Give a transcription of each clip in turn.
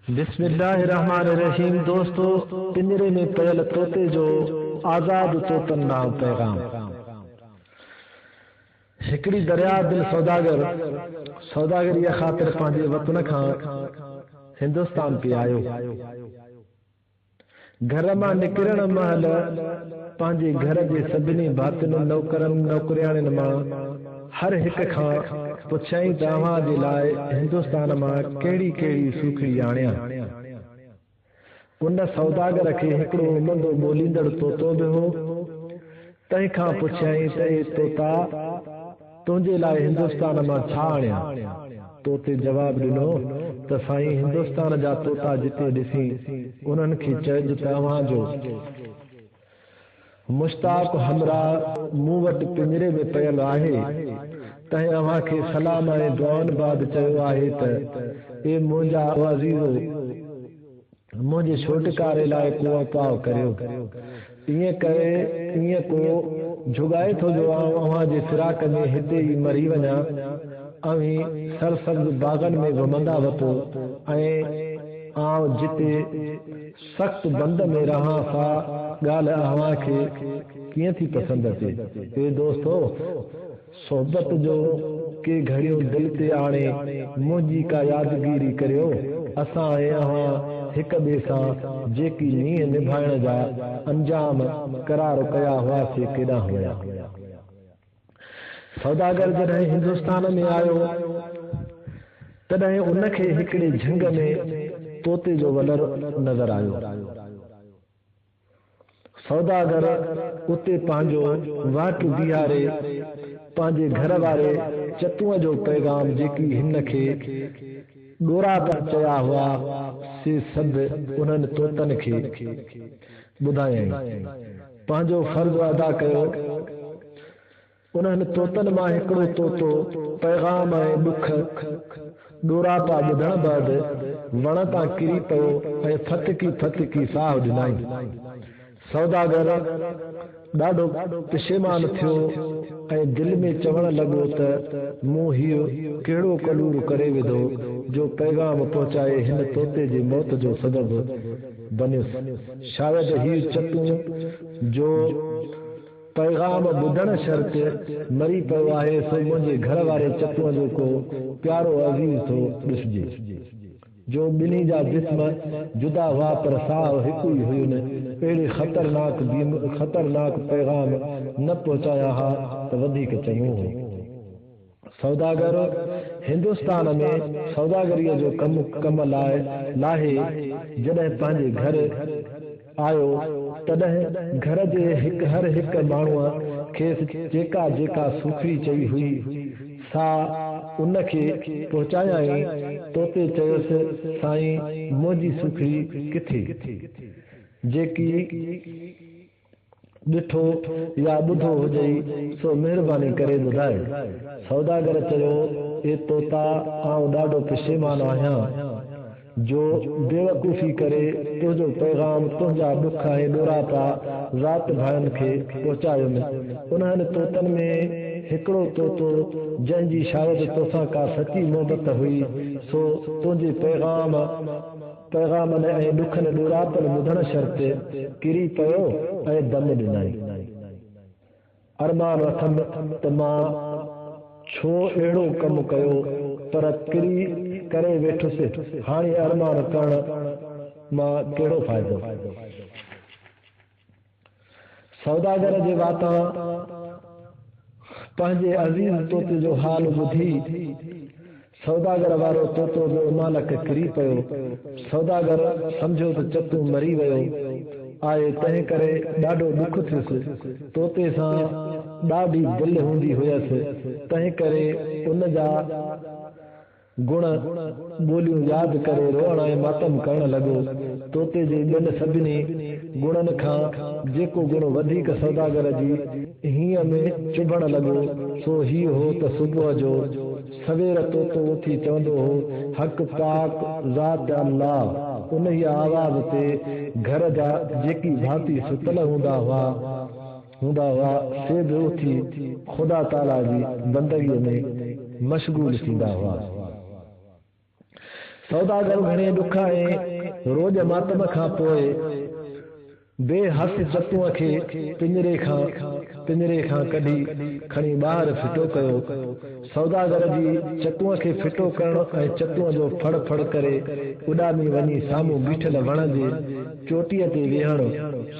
بسم الله الرحمٰن الرحيم دوستو پڃري ۾ پيل طوطي جو آزاد طوطن ڏانهن پيغام هڪڙي درياء دل سوداگر سوداگريء خاطر پنهنجي وطن کان هندستان پي آيو گهر مان نڪرڻ مهل پنهنجي گهر جي سڀني ڀاتين نوڪرن نوڪرياڻين مان هر هڪ کان پڇيائين ته اوهان جي لاء هندستان مان ڪهڙي ڪهڙي سوکڙي آڻيان. ان سوداگر کي هڪڙو امندو ٻوليندڙ طوطو به هو، تنهن کان پڇيائين ته اي طوطا! تنهنجي لاء هندستان مان ڇا آڻيان؟ طوطي جواب ڏنو ته سائين هندستان جا طوطا جتي ڏسين انهن کي چئج ته اوهان جو مشتاق همراهه مون وٽ پڃري ۾ پيل آهي، تنهن اوهان کي سلام ۽ دعائن بعد چيو آهي ته اي منهنجا عزيزو! منهنجي ڇوٽڪاري لاء ڪو اپاء ڪريو. ائين ڪري ائين ڪو جهڳائي ٿو جو آئون اوهان جي فراق ۾ هتي ئي مري وڃان. اوهين سرسبز باغن ۾ ومهندا وتو ۽ آئون جتي سخت بند ۾ رهان سا ڳالهه اوهان کي ڪيئن ٿي پسند اچي. اي دوستو! صحبت جو ڪي گهڙيون دل تي آڻي منهنجي ڪا يادگيري ڪريو اسان ۽ اوهان هڪ ٻئي سان جيڪي مينهن نڀائڻ جا انجام قرار ڪيا هئا سي ڪيڏانهن هنيا سوداگر جڏهن هندستان ۾ آيو تڏهن ان کي هڪڙي جهنگ ۾ طوطي جو ولر نظر آيو. سوداگر اتي پنهنجو واٽ بيهاري پنهنجي گهر واري چتونء جو پيغام جيڪي هن کي ڏوراپا چيا هئا سي سڀ انهن طوطن کي ٻڌايائين. پنهنجو فرض ادا ڪيو. انهن طوطن مان هڪڙو طوطو پيغام ۽ ڏک ڏوراپا ٻڌڻ بعد وڻ تان ڪري پيو ۽ ڦٿڪي ڦٿڪي ساهه ڏنائين. سوداگر ڏاڍو پشيمان ٿيو ۽ دل ۾ چوڻ لڳو ته مون هيء ڪهڙو ڪلور ڪري وڌو جو پيغام پهچائي هن طوطي جي موت جو سبب بنيس. شايد هيء چتون جو پيغام ٻڌڻ شرط مري پيو آهي سو منهنجي گهر واري چتوء جو ڪو پيارو عزيز ٿو ڏسجي جو ٻنهي جا جسم جدا هئا پر ساهه هڪ ئي هين اهڙي خطرناڪ بيم خطرناڪ پيغام نه پهچايان ها ته وڌيڪ چڱو هو. سوداگر هندستان ۾ سوداگريء جو ڪم ڪم لاء لاهي جڏهن پنهنجي گهر آيو، تڏهن گهر جي هڪ هر هڪ ماڻهوء کيس جيڪا جيڪا سوکڙي چئي هئي، سا ان کي پهچايائين. توتي چيس، سائين، منهنجي سوکڙي ڪٿي، جيڪي ڏٺو يا ٻڌو هجئي سو مهرباني ڪري ٻڌاء. سوداگر چيو، اي طوطا آئون ڏاڍو پشيمان آهيان جو بيوقوفي ڪري تنهنجو پيغام تنهنجا ڏک ۽ ڏوراپا ذات ڀائن کي پهچايم. انهن طوطن ۾ هڪڙو طوطو جنهن جي شايد توسان ڪا سچي محبت هئي سو تنهنجي پيغام پيغامن ۽ ڏکن ڏوراپن ٻڌڻ شر تي ڪري پيو ۽ دم ڏنائين. ارمان اٿم ته مان ڇو اهڙو ڪم ڪيو پر ڪري ڪري ويٺس هاڻي ارمان ڪرڻ مان ڪهڙو فائدو. سوداگر جي واتان پنهنجي عزيز طوطي جو حال ٻڌي، سوداگر وارو طوطو به امالڪ ڪري پيو. سوداگر سمجهيو ته چتون مري ويو آهي، تنهن ڪري ڏاڍو ڏک ٿيس. طوطي سان ڏاڍي دل هوندي هيس، تنهن ڪري ان جا. گڻ، ٻوليون ياد ڪري روئڻ ۽ ماتم ڪرڻ لڳو. طوطي جي ٻين سڀني گڻن کان جيڪو گڻ وڌيڪ سوداگر جي هينئن ۾ چڀڻ لڳو، سو هيء هو ته صبح جو سوير طوطو اٿي چوندو هو، حق پاڪ ذات الله! انهيء آواز تي گهر جا جيڪي ڀاتي ستل هوندا هئا، هوندا هئا، سي به اٿي خدا تعاليٰ جي بندگيء ۾ مشغول ٿيندا هئا. سوداگر گهڻي ڏک ۽ روڄ ماتم کان پوء بي حس چتون کي پڃري کان پڃري کان ڪڍي کڻي ٻاهر ڦٽو ڪيو. سوداگر جي چتونء کي ڦٽو ڪرڻ ۽ چتونء جو ڦڙ ڦڙ ڪري اڏامي وڃي سامهون بيٺل وڻ جي چوٽيء تي ويهڻ.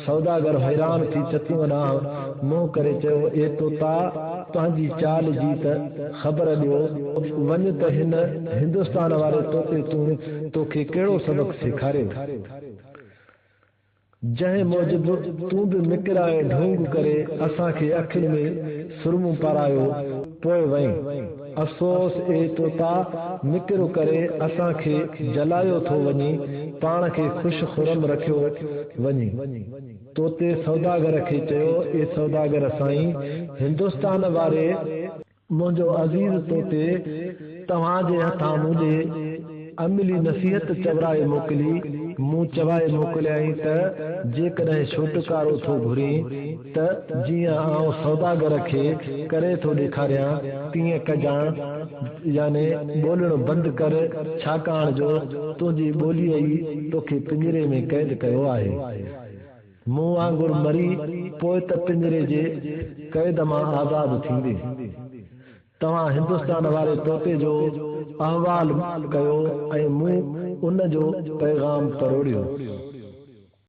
سوداگر حيران ٿي چتونء ڏانهن منهن ڪري چيو، اي طوطا! تنهنجي چال جي ته خبر ڏيو. وڃ ته هن هندستان واري طوطي تون توکي ڪهڙو سبق سيکاريو. جنهن موجب تون به مڪر ۽ ڍونگ ڪري اسان کي اکين ۾ سرمو پارايو پوء وئين. افسوس اي طوطا مڪر ڪري اسان کي جلايو ٿو وڃين پاڻ کي خوش خرم رکيو وڃين. طوطي سوداگر کي چيو اي سوداگر سائين هندستان واري! منهنجو عزيز طوطي توهان جي هٿان منهنجي عملي نصيحت چورائي موڪلي. مون چوائي موڪليائين ته جيڪڏهن ڇوٽڪارو ٿو گهرين ته جيئن آئون سوداگر کي ڪري ٿو ڏيکاريان تيئن ڪجان يعني ٻولڻ بند ڪر ڇاڪاڻ جو تنهنجي ٻوليء ئي توکي پڃري ۾ قيد ڪيو آهي. مون وانگر مري پوء ته پڃري جي قيد مان آزاد ٿيندين. توهان هندستان واري طوطي جو احوال ڪيو ۽ مون ان جو پيغام پروڙيو.